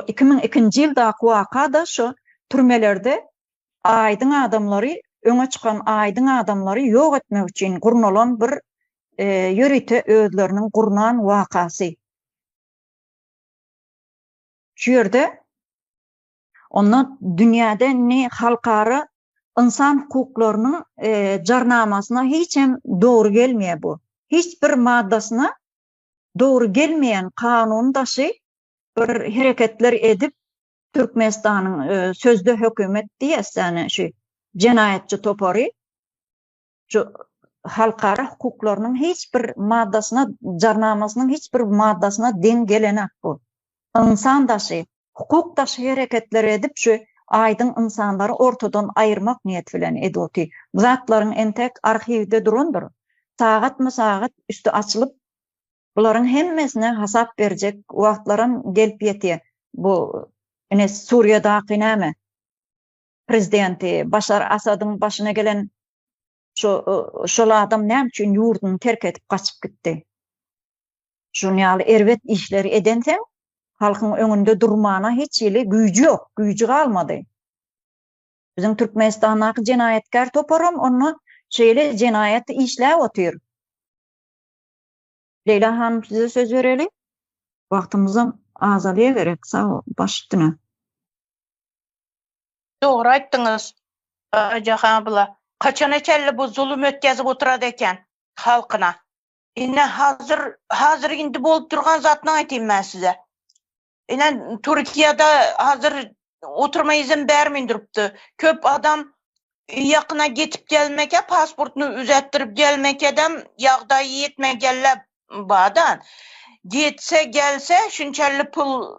Iki müň ikinji ýyldaky waka-da şo türmelerde aýdyň adamlary, öňe çykan aýdyň adamlary ýok etmek üçin gurnalan bir ýörite özleriniň gurnan wakasy. Şu ýerde onda dünýäde ne halkara ynsan hukuklarynyň jarnamasyna hiç hem dogry gelmeýär bu. Hiç bir maddasyna dogry gelmeýän kanun daşy bir hereketler edip Türkmenistanyň sözde hökümet diýäsdäne şu jenaýatçy topary şu halkara hukuklarynyň hiç bir maddasyna jarnamasynyň hiç bir maddasyna deň gelenok bu. Ynsan daşy, hukuk daşy hereketleri edip şu aýdyň ynsanlary ortadan aýyrmak niýeti bilen eduti. Bu zatlaryň entek arhiwde durandyr. Sagatma sagat üsti açylyp bularyň hemmesine hasap berjek wagtlaram gelip ýetýä. Bu ine Suriýadaky näme? Prezidenti Başar Asadyň başyna gelen Şu şol adam näme üçin ýurduny terk edip gaçyp gitdi? Şun ýaly erbet işleri edenseň, halkyň öňünde durmana hiç hili güýji ýok, güýji galmady. Biziň Türkmenistandaky jenaýatkär toparam onda şeýle jenaýat işläp otyr. Leýla hanym size söz bereli. Wagtymyzam azalýa gerek, sag bol, baş üstüne. Dogry aýtdyňyz Aýjahan abla. Haçana çenli bu zulum ötgezip oturad eken halkyna. Ine hazir hazir indi bolup durgan zatyny aýtyn men size. Ine Türkiýede hazir oturma izin bermin durupdy. Köp adam ýakyna getip gelmeke pasportyny üzetdirip gelmekedem ýagdaýy ýetmegelle bada. Getse gelse şunçenli pul